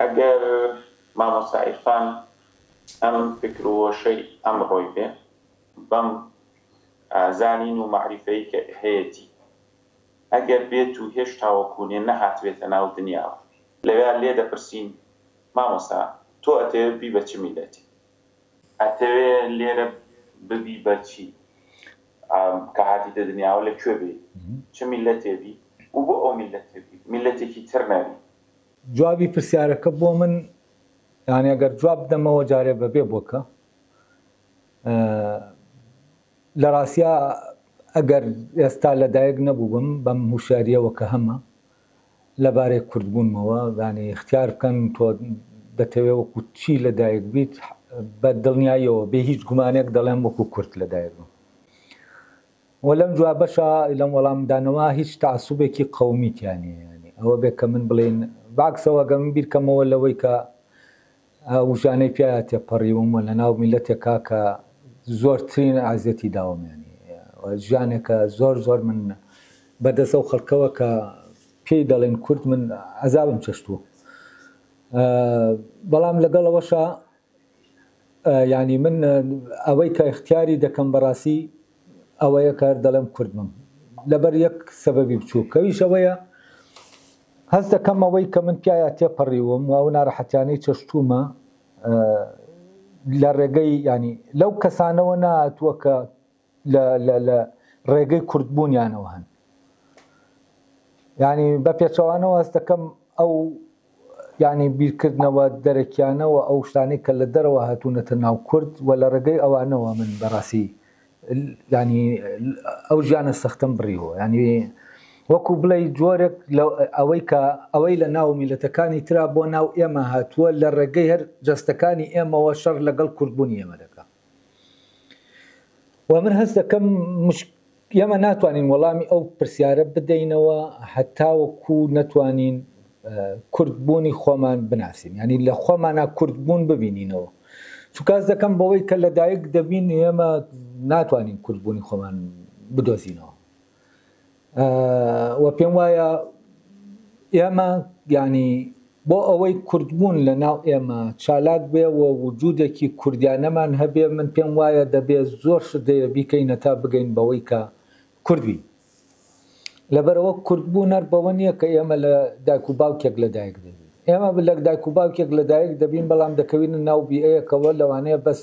ئەگەر مامۆستا عیرفان ئەم فکر و هۆشەی ئەمڕۆی بێ بەم زانین و مەعریفەی کە هەیەتی ئەگەر بێت و هێش تاوەکوونێ نەهاتبێتە ناو دنیاوە لەوێا لێ دەپرسین مامۆستا تۆ ئەتەوێ ببی بە چ میلەتی؟ ئەتەوێ لێرە ببی بە چی کە هاتیتە دنیاوە لە کوێ بێی چ میلەتێ بی و بۆ ئەو میلەتێ بی میلەتێکی تر نەبی جوابی پرسیارەکە بۆ من یانی ئەگەر جواب بدەمەوە جارێ بەبێ بۆکە لە ڕاستیا ئەگەر ئێستا لەدایک نەبووبم بەم هوشاریەوە کە هەمە لەبارەی کوردبوونمەوە دانی اختیار بکەن تۆ دەتەوێ وەکو چی لەدایک بیت بە دڵنیاییەوە بێ هیچ گومانێک دەڵێم وەکو کورت لەدایکم وە لەم دوا بەشە لەم وەڵام دانەوە هیچ تەعەسوبێکی قەومی تیا نیە یانی ئەوە بێ کە من بڵین بەعکسەوە گەر من بیرکەمەوە لەوەی کە وژانەی پیایا تێپەڕیوم و لەناو میلەتێکا کە زۆرترین عەزێتی داوم یانی وە ژیانێکە زۆر زۆر من بە دەست ئەو خەڵکەوە کە پێی دەڵێن کورد من عەزابم چەشتوە بەڵام لەگەڵ ئەوەشا یانی من ئەوەی کە ئیختیاری دەکەم بەڕاستی ئەوەیە کە دەڵێم کورد بم لەبەر یەک سەبەبی بچووک کەویش ئەوەیە هەست دەکەم ئەوەی کە من پیایا تێپەڕیوم و ئەو ناڕەحەتیانەی چەشتومە لە ڕێگەی ینی لەو کەسانەوە ناتووە کە لە ڕێگەی کوردبوونیانەوە هەن ینی بە پێچەوانەوە هەست دەکەم ئەو ینی بیرکردنەوە دەرەکیانەوە ئەو شتانی کە لە دەرەوە هاتوونەتە ناو کورد و لە ڕێگەی ئەوانەوە من بەڕاستی ینی ئەو ژیانە سەختم بڕیەوە ینی وەکو بڵێ جۆرێک ئەوەی کە ئەوەی لە ناو میلەتەکانی تررا بۆ ناو ئێمە هاتووە لە ڕێگەی هەر جەستەکانی ئێمەوە شەڕ لەگەڵ کوردبوونی ئێمە دەکە و من هەست دەکەم ئێمە ناتوانین وەڵامی ئەو پرسیارە بدەینەوە هەتاوەکو نەتوانین کوردبوونی خۆمان بناسین ینی لە خۆمانە کوردبوون ببینینەوە چکاس دەکەم بەوەی کە لەدایک دەبین ئێمە ناتوانین کوردبوونی خۆمان بدۆزینەوە و پێم وایە ئێمە ینی بۆ ئەوەی کوردبوون لە ناو ئێمە چالاک بێ و وجودێکی کوردیانەمان هەبێ من پێم وایە دەبێ زۆر شدەیە بیکەینە تا بگەین بەوەی کە کوردبی لەبەرەوە کوردبوو نەر بەوە نییە کە ئێمە لە دایک و باوکێک لە دایک دەبین ئێمە لە دایک و باوکێک لە دایک دەبین بەڵام دەکەوین ناو بیەیەکەوە لەوانەیە بەس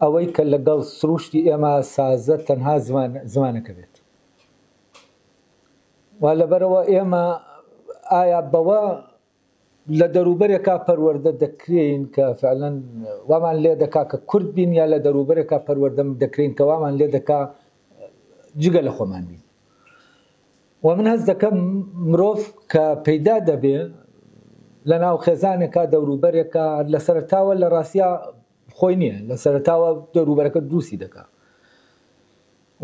ئەوەی کە لەگەڵ سروشتی ئێمە سازە تەنها زمان زمانەکە بێت وا لەبەرەوە ئێمە ئایا بەوە لە دەروبەرێکا پەروەردە دەکرێین کە فعلەن وامان لێ دەکا کە کورد بین یا لە دەروبەرێکا پەروەردەم دەکرێن کە وامان لێ دەکا جگە لە خۆمان بین و من هەز دەکەم مرۆڤ کە پەیدا دەبێ لە ناو خێزانێکا دەوروبەرێکە لە سەرتاوە لە ڕاستیا خۆی نیە لە سەرەتاوە دەوروبەرەکە دروستی دەکا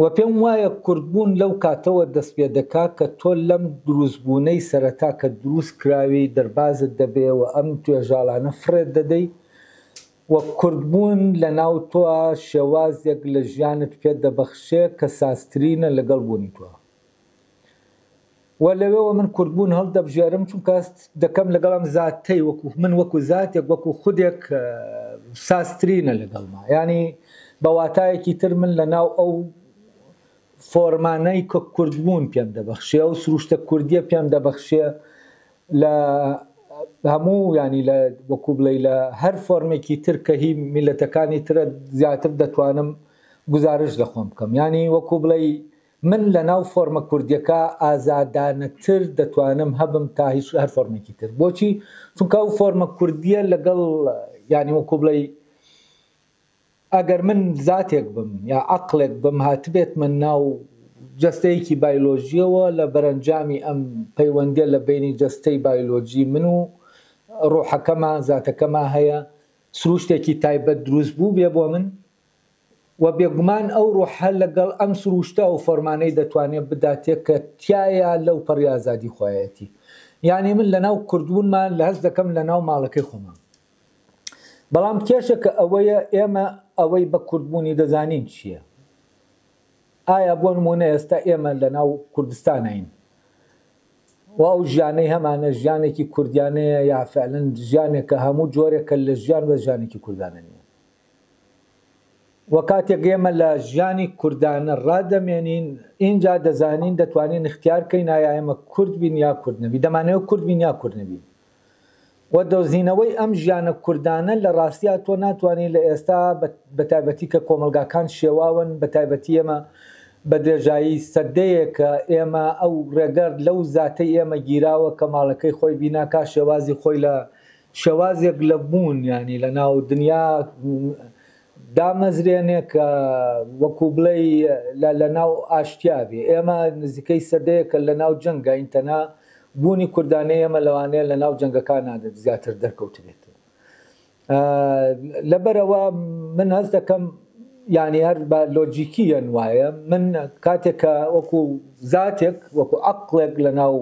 وە پێم وایە کوردبوون لەو کاتەوە دەست پێ دەکا کە تۆ لەم دروستبوونەی سەرەتا کە دروست کراوی دەربازت دەبێ وە ئەم توێژاڵانە فڕێت دەدەی و کوردبوون لە ناو تۆا شێوازێک لە ژیانت پێ دەبەخشێ کە سازترینە لەگەڵ بوونی تۆا و لەوێوە من کوردبوون هەڵدەبژێرم، چونکە دەکەم لەگەڵ ئەم زاتەی وەکو من، وەکو زاتێک، وەکو خودێک سازترینە لەگەڵما. یانی بە واتایەکی تر من لەناو ئەو فۆرمانەی کە کوردبوون پێم دەبەخشێ، ئەو سروشتە کوردییە پێم دەبەخشێ لە هەموو یانی لە وەکو بڵێی لە هەر فۆرمێکی تر کە هی میللەتەکانی ترە زیاتر دەتوانم گوزارشت لە خۆم بکەم. یانی وەکو بڵێی من لە ناو فۆرمە کوردیەکە ئازادانەتر دەتوانم هەبم تا هیچ هەر فۆرمێکی تر بۆچی چونکە ئەو فۆرمە کوردیە لەگەڵ یانی وەکو بڵێ ئەگەر من زاتێک بم یا عقلێک بم هاتبێت من ناو جستەیەکی بایلۆژیەوە لە بەرەنجامی ئەم پەیوەندە لە بینی جستەی بایلۆجی من و ڕۆحەکەمان زاتەکەمان هەیە سروشتێکی تایبەت دروست بوو بێ بۆ من وە بێگومان ئەو ڕۆحە لەگەڵ ئەم سرووشتە و فۆرمانەی دەتوانێت بگاتێ کە تیایا لەو پەڕی ئازادی خۆیەتی یانی من لەناو کوردبوونما لە هەست دەکەم لەناو ماڵەکەی خۆمام بەڵام کێشەکە ئەوەیە ئێمە ئەوەی بە کوردبوونی دەزانین چییە ئایا بۆ نمونە ئێستا ئێمە لەناو کوردستانین و ئەو ژیانەی هەمانە ژیانێکی کوردیانەیە یا فعلەن ژیانێکە هەموو جۆرێکە لە ژیان بە ژیانێکی کوردانە نیە وە کاتێک ئێمە لە ژیانی کوردانە ڕادەمێنین ئینجا دەزانین دەتوانین اختیار کەین ئایا ئێمە کورد بین یا کورد نەبین دەمانەوێت کورد بین یا کورد نەبین وە دۆزینەوەی ئەم ژیانە کوردانە لە ڕاستیا تۆ ناتوانین لە ئێستا بە تایبەتی کە کۆمەڵگاکان شێواون بە تایبەتی ئێمە بە درێژایی سەدەیەکە ئێمە ئەو ڕێگە لەو زاتەی ئێمە گیراوە کە ماڵەکەی خۆی بیناکا شێوازی خۆی لە شێوازێک لە بوون یانی لە ناو دنیا دامەزرێنێ کە وەکوو بڵێی لە لە ناو ئاشتیا بێ. ئێمە نزیکەی سەدەیەکە لە ناو جەنگاین تەنها بوونی کوردانەی ئێمە لەوانەیە لە ناو جەنگەکانا زیاتر دەرکەوتبێتەوە. لەبەرئەوە من هەست دەکەم یانی هەر بە لۆجیکییەن وایە من کاتێک کە وەکوو زاتێک وەکوو عەقڵێک لە ناو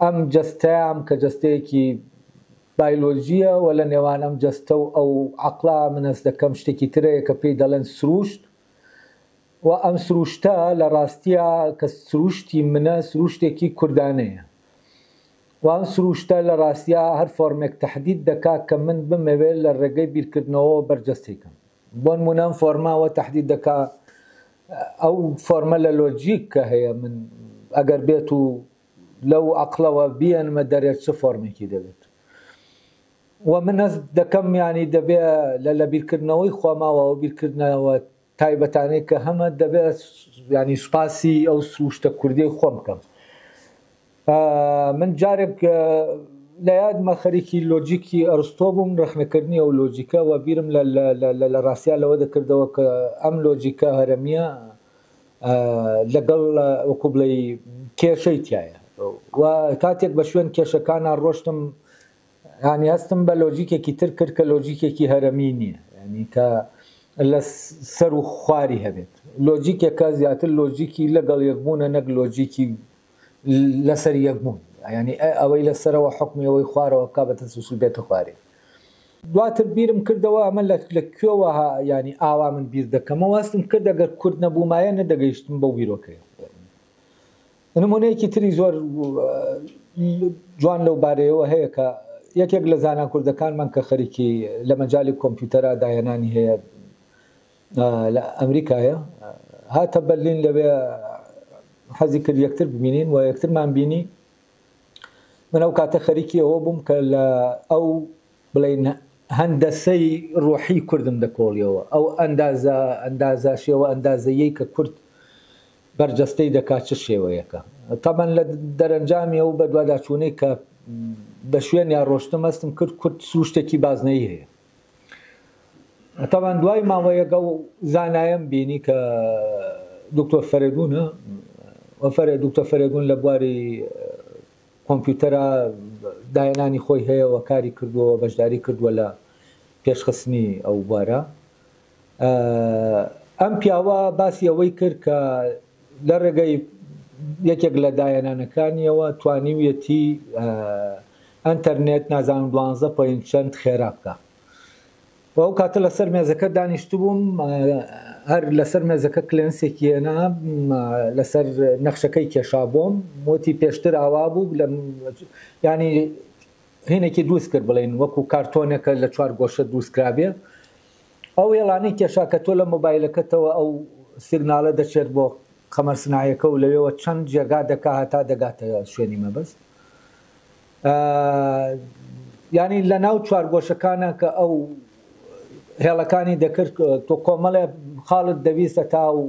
ئەم جەستەیام کە جەستەیەکی بایلۆجییە و لە نێوان ئەم جەستە و ئەو عەقڵە من هەست دەکەم شتێکی ترە یە کە پێی دەڵێن سرووشت و ئەم سرووشتە لە ڕاستیا کە سرووشتی منە سرووشتێکی کوردانەیە و ئەم سرووشتە لە ڕاستیا هەر فۆرمێک تەحدید دەکا کە من بمەوێ لە ڕێگەی بیرکردنەوەوە بەرجەستەی کەم. بۆنموونە ئەم فۆرمە ئەوە تەحدید دەکا ئەو فۆرمە لە لۆجیک کە هەیە من ئەگەر بێت و لەو عەقڵەوە بیەنمە دەرێ چ فۆرمێکی دەبێت و من هەست دەکەم یانی دەبێ لە لە بیرکردنەوەی خۆماوە ئەو بیرکردنەوە تایبەتانەی کە هەمە دەبێت ینی سوپاسی ئەو سروشتە کوردیەی خۆم بکەم من جارێک لە یادمە خەریکی لۆجیکی ئەرستۆ بووم، ڕەخنەکردنی ئەو لۆجیکە و بیرم لە ڕاستیا لەوە دەکردەوە کە ئەم لۆجیکە هەرەمییە لەگەڵ وەکوو بڵێی کێشەی تیایە و کاتێک بە شوێن کێشەکانا ڕۆشتم یانی هەستم بە لۆجیکێکی تر کرد کە لۆجیکێکی هەرەمی نییە یانی کە لە سەر و خواری هەبێت لۆجیکێکە زیاتر لۆجیکی لەگەڵ یەکبوونە نەک لۆجیکی لەسەر یەک بوون ینی ئەوەی لە سەرەوە حکمی ئەوەی خوارەوە بک بە تەسوسل بێتە خوارێ دواتر بیرم کردەوە ئەمە لە لە کوێوە ینی ئاوا من بیر دەکەمەوە هەستم کرد دەگەر کورد نەبوومایە نەدەگەیشتم بە بیرۆکەیە نمونەیەکی تری زۆر جوان لەو بارەیەوە هەیە کە یەکێک لە زانان کوردەکانمان کە خەریکی لە مەجای کۆمپیوتەرا داهێنانی هەیە لە ئەمریکایە هاتە بەرلین لەوێ حەزی کرد یەکتر ببینین و یەکترمان بینی من ئەو کاتە خەریکی ئەوە بووم کە لە ئەو بڵین هەندەسەی ڕۆحی کوردم دەکۆڵیەوە ئەو ئەندازە ئەندازە شێوە ئەندازەیەی کە کورد بەرجەستەی دەکات چ شێوەیەەکە تەمەەن لە دەرەنجامی ئەو بەدواداچوونەی کە بە شوێن یا ڕۆشتم هەستم کرد کورد سوشتێکی بازنەی هەیە تەبعەن دوای ماوەیەک ئەو زانایەم بینی کە دکتۆر فەرێدونە و فەرێ دکتۆر فەرێدون لە بواری کۆمپیوتەرە داهێنانی خۆی هەیەەوە کاری کردووە بەشداری کردووە لە پێشخستنی ئەو بوارە ئەم پیاوە باسی ئەوەی کرد کە لە رێگەی یەکێک لە داهێنانەکانییەوە توانیویەتی ئەنتەرنێت نازانم دوانزە پۆینت چەند خێرا بکا و ئەو کاتە لەسەر مێزەکە دانیشتبووم هەر لەسەر مێزەکە کلێنسێکی هێنا لەسەر نەخشەکەی کێشا بۆم وتی پێشتر ئاوا بوو لە ینی هینێکی دروست کرد بڵێن وەکو کارتۆنەکە لە چوار گۆشە دروستکرابێ ئەو وێڵانەی کێشا کە تۆ لە مۆبایلەکەتەوە ئەو سیگناڵە دەچێت بۆ قەمەر سنایەکە و لەوێوە چەند جێگا دەکا هەتا دەگاتە شوێنی مەبەست یانی لە ناو چوارگۆشەکانە کە ئەو هێڵەکانی دەکرد تۆ کۆمەڵێ خاڵت دەویستە تا و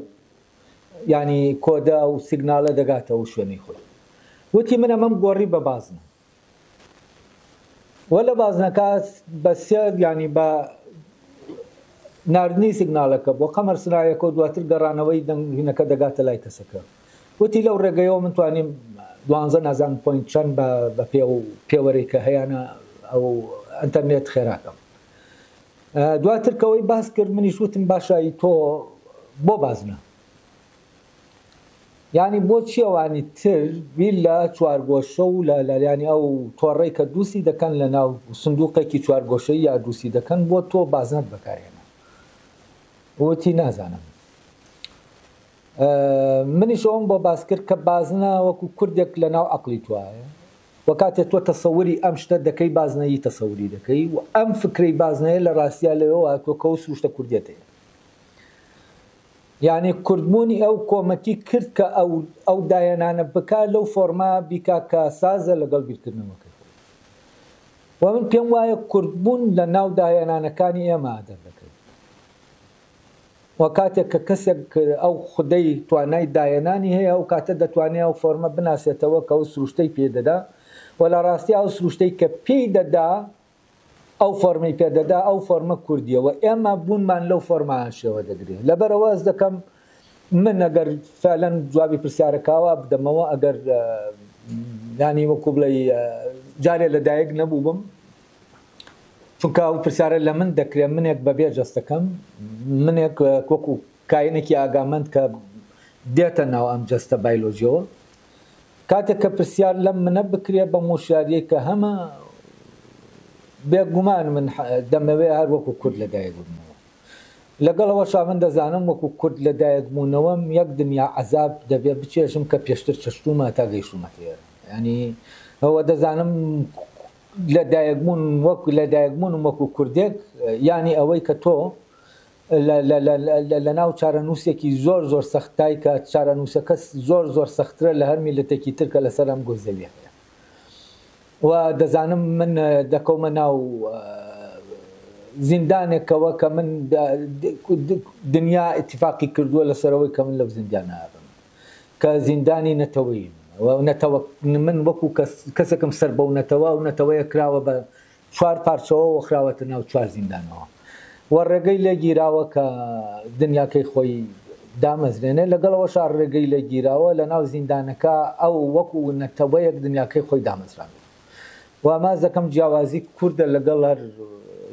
ینی کۆدا و سیگنالە دەگاتەوە شوێنی خۆی وتی منە مەم گۆڕی بە بازنە وە لە بازنەکە بە سێ یانی بە ناردنی سیگنالەکە بۆ قەمەر سنایەکە و دواتر گەڕانەوەی دەنگینەکە دەگاتە لای کەسەکە وتی لەو ڕێگەیەوە من توانیم دوانزە نازان پوینت چەند بە پێ و پێوەرەی کە هەیەە ئەو ئەتەرنێت خێراکەم دواترکەوەی باس کرد منیش وتم باشایی تۆ بۆ بازنە یانی بۆچی ئەوانی تر بیر لە چوارگۆشە و لە لاریانی ئەو تۆڕەی کە دووسی دەکەن لە ناو سندوقێکی چوارگۆشەی یا دووسی دەکەن بۆ تۆ بازنەت بەکار هێنا؟ وتی نازانم. منیش ئەوم بۆ باس کرد کە بازنە وەکو کوردێک لە ناو عقلی توایە و کاتێ تۆ تەسەوری ئەم شتە دەکەی بازنەیی تەسەوری دەکەی و ئەم فکرەی بازنەیە لە ڕاستیا لەوەوە تۆ کەو سروشتە کوردێتەیە یانی کردبونی ئەو کۆمەکی کرد کە ئەو داهێنانە بکا لەو فۆرمە بیکا کە سازە لەگەڵ بیرکردنەوەکەی خۆی و من پێم وایە کردبون لە ناو داهێنانەکانی ئێمە دەردەکەوێت و کاتێک کە کەسێک ئەو خودەی توانای داهێنانی هەیە ئەو کاتە دەتوانێت ئەو فۆرمە بناسێتەوە کە ئەو سروشتەی پێدەدا و لە ڕاستی ئەو سروشتەی کە پێی دەدا ئەو فۆرمەی پێ دەدا ئەو فۆرمە کوردیە و ئێمە بوونمان لەو فۆرمە هەشێوە دەگرێ لەبەرەوە ئەز دەکەم من ئەگەر فعلەن جوابی پرسیارەکاوا بدەمەوە ئەگەر ینی وەکو بڵێ جارێ لەدایک نەبوو بم چونکە ئەو پرسیارە لە من دەکرێت منێک بەبێ جەستەکەم منێک وەکو کاینێکی ئاگامەند کە دێتە ناو ئەم جەستە بایلۆژیەوە کاتێک کە پرسیار لەم منە بکرێ بەم وشیاریەی کە هەمە بێ گومان من دەمەوێ هەر وەکو کورد لە دایک بمەوە لەگەڵ ئەوەشا من دەزانم وەکو کورد لە دایک بوونەوەم یەک دنیا عەزاب دەبێ بچێژم کە پێشتر چەشتومە تا گەیشتومەتە ئێرە ینی ئەوە دەزانم لە دایکبوون وەک لە دایکبوونم وەکو کوردێک ینی ئەوەی کە تۆ لەناو چارەنووسێکی زۆر زۆر سەختای کە چارەنووسەکە زۆر زۆر سەخترە لە هەر میللەتێکی تر کە لەسەر ئەم گۆی زەویە هەیە و دەزانم من دەکەومە ناو زیندانێکەوە کە من دنیا اتفاقی کردووە لەسەرەوەی کە من لەو زیندانە بم کە زیندانی نەتەوەیم نەتەوە من وەکو کەسێکم سەر بەو نەتەوە و نەتەوەیە کراوە بە چوار پارچەوەوە خراوەتە ناو چوار زیندانەوە و ڕێگەی لێ گیراوە کە دنیاکەی خۆی دامەزرێنێ، لەگەڵ ئەوەشا ڕێگەی لێ گیراوە لە ناو زیندانەکە ئەو وەکو نەتەوەیەک دنیاکەی خۆی دامەزراندووە و ئاماژ دەکەم جیاوازی کوردە لەگەڵ هەر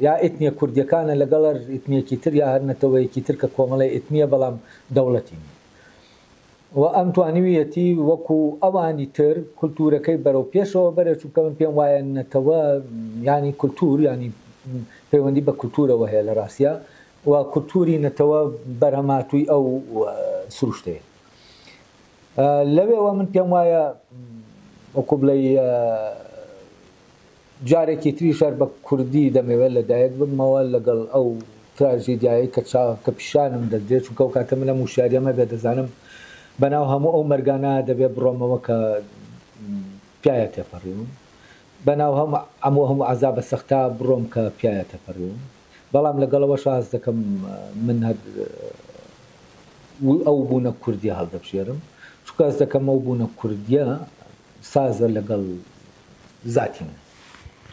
یا ئیتنیە کوردیەکانە لەگەڵ هەر ئیتنیەکی تر یا هەر نەتەوەیەکی تر کە کۆمەڵی ئیتنیە بەڵام دەوڵەتی نیە و ئەم توانیویەتی وەکو ئەوانی تر کولتوورەکەی بەرەو پێشەوە بەرێت، چونکە من پێم وایە نەتەوە یانی کولتوور یانی پەیوەندی بە کولتوورەوە هەیە لە راستیا و کولتووری نەتەوە بەرهەمهاتووی ئەو سروشتەیە. لەوێوە من پێم وایە وەکو بڵێی جارێکی تریش هەر بە کوردی دەمەوێت لە دایک ببمەوە لەگەڵ ئەو تراژیدیایەی کە چاو کە پیشانم دەدرێت چونکە ئەو کاتە من ئەم وشیاریەم هەبێت دەزانم بە ناو هەموو ئەو مەرگانە دەبێت بڕۆمەوە کە پیایا تێپەڕیوم بە ناو هەم ئەموو هەموو عەزابە سەختە بڕۆم کە پیایا تێپەڕیوم بەڵام لەگەڵ ئەوەش هەست دەکەم من هەر ئەو بوونە کوردیە هەڵدەبژێرم چونکە هەست دەکەم ئەو بوونە کوردیە سازە لەگەڵ زاتی من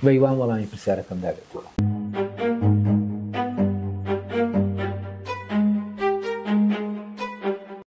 بەی وام وەڵامی پرسیارەکەم دابێتەوە.